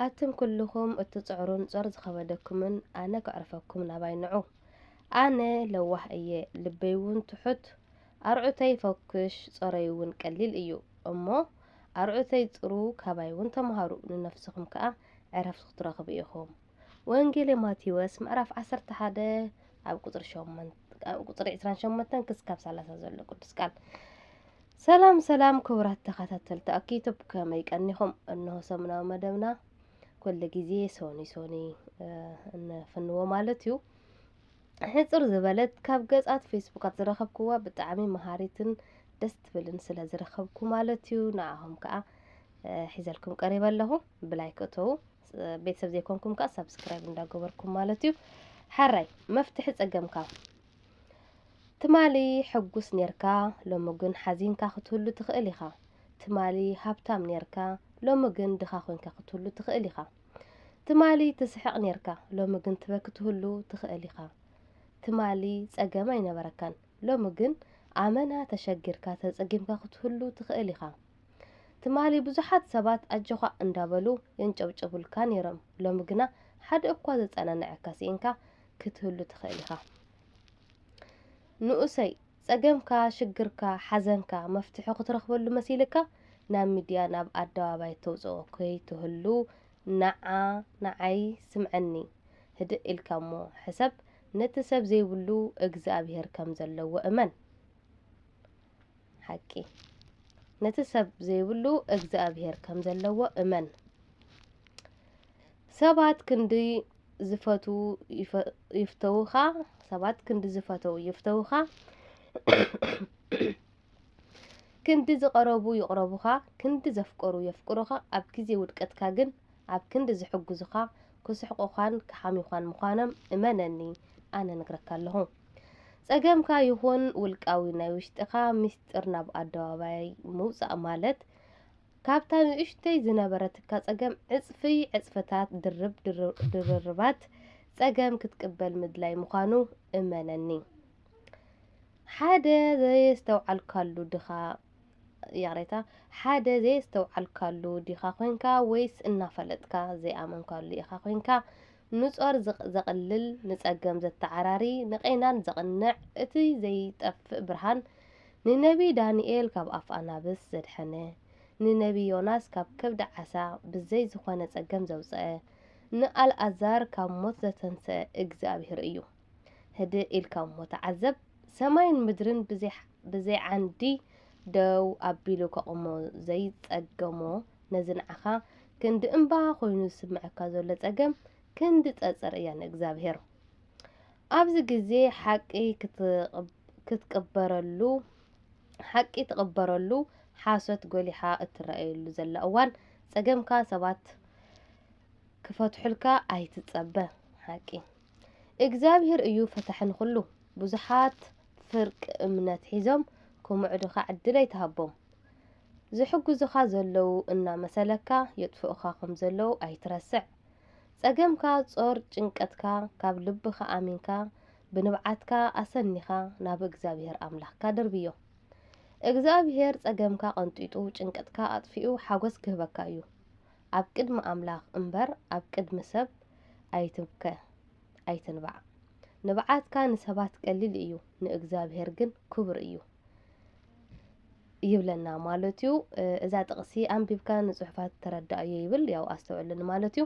ኣቱም ኩሉኹም እትጽዕሩን ጾር ዝኸበደኩምን ኣነ ከዕርፈኩም ናባይ ንዑ። ኣነ ለዋህ እየ፣ ልበይ እውን ትሑት፣ ኣርዑተይ ፈኲሽ፣ ጾረይ እውን ቀሊል እዩ። እሞ ኣርዑተይ ጽሩ፣ ካባይ እውን ተምሃሩ፣ ንነፍስኹም ከኣ ዕረፍቲ ክትረኽቡ ኢኹም። ወንጌል ማቴዎስ ምዕራፍ 11 ኣብ ቁፅሪ 8 ኣብ ቁፅሪ 28 ክስካብ 30 ዘሎ ቅዱስ ቃል ሰላም ሰላም ክቡራት ተኸታተልቲ ኣኪቶብ ከመይ ቀኒኹም እንሆ ሰሙናዊ መደብና ኩሉ ግዜ ሶኒ ሶኒ እንፍንዎ ማለት እዩ ሕፅር ዝበለት ካብ ገጻት ፌስቡካት ዝረኸብክዋ ብጣዕሚ መሃሪትን ደስ ትብልን ስለ ዝረኸብኩ ማለት እዩ ንዓኹም ከዓ ሒዘልኩም ቀሪበ ኣለኹ ብላይ ክእተዉ ቤተሰብ ዘይኮንኩም ከዓ ሳብስክራይብ እንዳገበርኩም ማለት እዩ ሓራይ መፍትሒ ፀገምካ ትማሊ ሕጉስ ኔርካ ሎሚ ግን ሓዚንካ ክትህሉ ትኽእል ኢኻ ትማሊ ሃብታም ኔርካ ሎሚ ግን ድኻ ኮንካ ክትህሉ ትኽእል ኢኻ ትማሊ ትስሕቕ ኔርካ ሎሚ ግን ትበኪ ትህሉ ትኽእል ኢኻ ትማሊ ፀገም ኣይነበረካን ሎሚ ግን ኣመና ተሸጊርካ ተፀጊምካ ክትህሉ ትኽእል ኢኻ ትማሊ ብዙሓት ሰባት ኣጆኻ እንዳበሉ የንጨብጭቡልካ ነይሮም፣ ሎሚ ግና ሓደ እኳ ዘጸናንዐካ ስኢንካ ክትህሉ ትኽእል ኢኻ። ንኡሰይ ጸገምካ፣ ሽግርካ፣ ሓዘንካ መፍትሑ ክትረኽበሉ መሲልካ ናብ ሚድያ ናብ ኣደባባይ ተውጽኦ ከይትህሉ ናዓ ንዓይ ስምዐኒ ህድእ ኢልካ እሞ ሕሰብ ነቲ ሰብ ዘይብሉ እግዝኣብሄር ከም ዘለዎ እመን። ሓቂ ነቲ ሰብ ዘይብሉ እግዚኣብሔር ከም ዘለዎ እመን ሰባት ክንዲ ዝፈትዉ ይፍተዉኻ ሰባት ክንዲ ዝፈተዉ ይፍተዉኻ ክንዲ ዝቐረቡ ይቕረቡኻ ክንዲ ዘፍቀሩ የፍቅሩኻ ኣብ ግዜ ውድቀትካ ግን ኣብ ክንዲ ዝሕግዙኻ ክስሕቁኻን ክሓምዩኻን ምዃኖም እመነኒ ኣነ እነግረካ ኣለኹ። ጸገምካ ይኹን ውልቃዊ ናይ ውሽጥኻ ምስጢር ናብ ኣደባባይ ምውጻእ ማለት ካብታ ንእሽቶይ ዝነበረትካ ጸገም ዕጽፊ ዕጽፍታት ድርብ ድርርባት ጸገም ክትቅበል ምድላይ ምዃኑ እመነኒ። ሓደ ዘየስተውዓልካሉ ድኻ ይቕሬታ ሓደ ዘየስተውዓልካሉ ዲኻ ኮንካ ወይስ እናፈለጥካ ዘይኣመንካሉ ኢኻ ኮንካ? ንጾር ዘቕልል ንጸገም ዘተዓራሪ ንቄናን ዘቕንዕ እቲ ዘይጠፍእ ብርሃን ንነብዪ ዳንኤል ካብ ኣፍ ኣናብስ ዘድሐነ ንነብዪ ዮናስ ካብ ከብዲ ዓሳ ብዘይ ዝኾነ ጸገም ዘውጽኣ ንኣልኣዛር ካብ ሞት ዘተንስኣ እግዚኣብሄር እዩ። ህድእ ኢልካ እሞ ተዓዘብ፣ ሰማይን ምድርን ብዘይ ዓንዲ ደው ኣቢሉ ከቑሞ ዘይጸገሞ ነዚ ንዓኻ ክንዲ እምባ ኮይኑ ዝስምዐካ ዘሎ ጸገም ክንዲ ጸጸር እያ ንእግዝኣብሄር። ኣብዚ ግዜ ሓቂ ክትቅበረሉ ሓቂ ትቕበረሉ ሓሶት ጎሊሓ እትረኣየሉ ዘላ እዋን ጸገምካ ሰባት ክፈትሑልካ ኣይትጸበ ሓቂ እግዚኣብሔር እዩ ፈታሒ ንኹሉ። ብዙሓት ፍርቂ እምነት ሒዞም ክምዕዱኻ ዕድል ኣይትሃቦም። ዝሕግዙኻ ዘለዉ እናመሰለካ የጥፍኡኻ ከምዘለዉ ኣይትረስዕ። ጸገምካ ጾር ጭንቀትካ ካብ ልብኻ ኣሚንካ ብንብዓትካ ኣሰኒኻ ናብ እግዚኣብሔር ኣምላኽካ ደርብዮ። እግዚኣብሔር ጸገምካ ቀንጢጡ ጭንቀትካ ኣጥፊኡ ሓጎስ ክህበካ እዩ። ኣብ ቅድሚ ኣምላኽ እምበር ኣብ ቅድሚ ሰብ ኣይትብከ ኣይትንባዕ። ንብዓትካ ንሰባት ቀሊል እዩ ንእግዚኣብሄር ግን ክቡር እዩ ይብለና ማለት እዩ። እዛ ጥቕሲ ኣንቢብካ ንጽሑፋት ተረዳኣዮ ይብል ያው ኣስተውዕሉ ንማለት እዩ።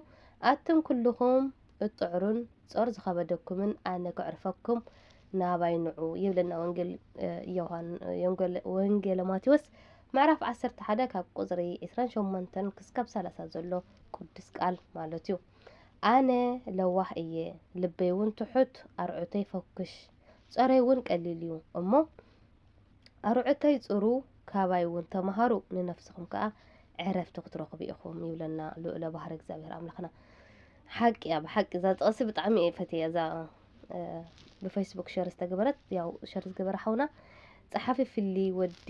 ኣቱም ኩልኹም እትጽዕሩን ጾር ዝኸበደኩምን ኣነ ከዕርፈኩም ናባይ ንዑ ይብለና ወንጌል ዮሃን ወንጌል ማቴዎስ ምዕራፍ ዓሰርተ ሓደ ካብ ቁጽሪ ዕስራን ሸሞንተን ክስካብ ሰላሳ ዘሎ ቅዱስ ቃል ማለት እዩ ኣነ ለዋህ እየ ልበይ እውን ትሑት ኣርዑተይ ፈኩሽ ጸረይ እውን ቀሊል እዩ እሞ ኣርዑተይ ጽሩ ካባይ እውን ተምሃሩ ንነፍስኹም ከዓ ዕረፍቲ ክትረኽቡ ኢኹም ይብለና ልኡለ ባህሪ እግዚኣብሔር ኣምላኽና ሓቂ እያ ብሓቂ እዛ ጥቕሲ ብጣዕሚ እየ ፈትየያ እዛ ብፌስቡክ ሸር ዝተገበረት ያው ሸር ዝገበረ ሓውና ፀሓፊ ፍሊ ወዲ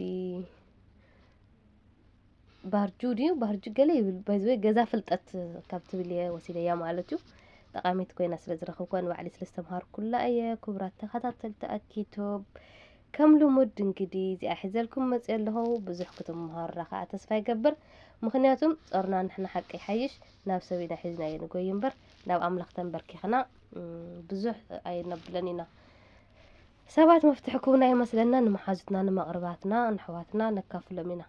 ባህርጁ ድዩ ባህርጁ ገለ ይብል ባይዘወ ገዛ ፍልጠት ካብ ትብል እየ ወሲደያ ማለት እዩ ጠቃሚት ኮይና ስለ ዝረኽብኳ ንባዕሊ ስለ ዝተምሃርኩላ እየ ክቡራት ተኸታተልቲ ኣኪቶብ ከም ልሙድ እንግዲ እዚኣ ሒዘልኩም መፅኦ ኣለኹ ብዙሕ ክትምሃሩና ከዓ ተስፋ ይገብር ምክንያቱም ፆርና ንሕና ሓቂ ይሓይሽ ናብ ሰብ ኢና ሒዝናዮ ንጎይ እምበር ናብ ኣምላኽ ተንበርኪኽና ብዙሕ ኣይነብለን ኢና። ሰባት መፍትሒ ክውና ይመስለና ንመሓዙትና ንመቕርባትና ንሕዋትና ነካፍሎም ኢና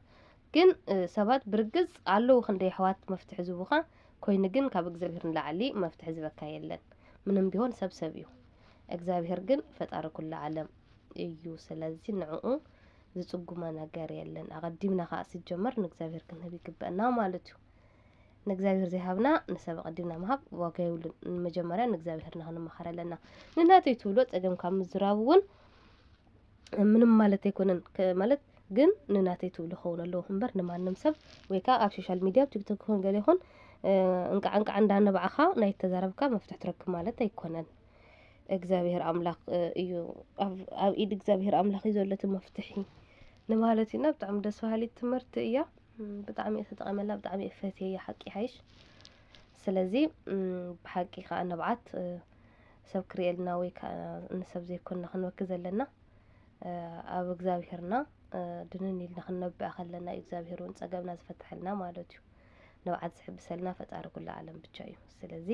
ግን ሰባት ብርግጽ ኣለዉ ክንደይ ኣሕዋት መፍትሒ ዝቡኻ ኮይኑ ግን ካብ እግዚኣብሄር ንላዕሊ መፍትሒ ዝበካ የለን ምንም ቢሆን ሰብ ሰብ እዩ እግዚኣብሄር ግን ፈጣሪ ኩሉ ዓለም እዩ ስለዚ ንዕኡ ዝጽጉሞ ነገር የለን ኣቐዲምና ከዓ ስጀመር ንእግዚኣብሄር ክንህብ ይግበአና ማለት እዩ ንእግዚኣብሄር ዘይሃብና ንሰብ ኣቐዲምና ምሃብ ዋጋ የብሉን። መጀመርያ ንእግዚኣብሄርና ክንመኻር ኣለና። ንናተይ ትብሎ ጸገም ካብ ምዝራብ እውን ምንም ማለት ኣይኮነን ማለት ግን ንናተይ ትብሎ ክኸውን ኣለዎ እምበር ንማንም ሰብ ወይ ከዓ ኣብ ሶሻል ሚድያ ኣብ ቲክቶክ ይኹን ገለ ይኹን እንቃዕ እንቃዕ እንዳነባዕኻ ናይ ተዛረብካ መፍትሒ ትረክብ ማለት ኣይኮነን። እግዚኣብሄር ኣምላኽ እዩ ኣብ ኢድ እግዚኣብሄር ኣምላኽ እዩ ዘሎ እቲ መፍትሒ ንማለት እዩና ብጣዕሚ ደስ በሃሊት ትምህርቲ እያ። ብጣዕሚ እየ ተጠቂመላ ብጣዕሚ እየ ፈትየያ ሓቂ ይሓይሽ ስለዚ ብሓቂ ከዓ ንብዓት ሰብ ክርእየልና ወይ ከዓ ንሰብ ዘይኮንና ክንበኪ ዘለና ኣብ እግዚኣብሄርና ድንን ኢልና ክንነብዕ ከለና እዩ እግዚኣብሄር እውን ፀገብና ዝፈትሐልና ማለት እዩ ንብዓት ዝሕብሰልና ፈጣሪ ኩሉ ዓለም ብቻ እዩ ስለዚ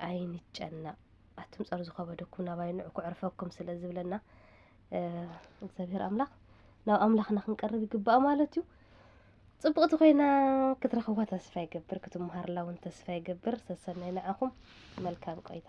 ኣይንጨነቅ ኣቱም ፀር ዝኸበደኩም ናባይ ንዑ ክዕርፈኩም ስለ ዝብለና እግዚኣብሔር ኣምላኽ ናብ ኣምላኽና ክንቀርብ ይግባእ ማለት እዩ ፅብቕቲ ኮይና ክትረኽቧ ተስፋ ይገብር ክትመሃርላ እውን ተስፋ ይገብር ሰሰናይ ንዓኹም መልካም ቆይታ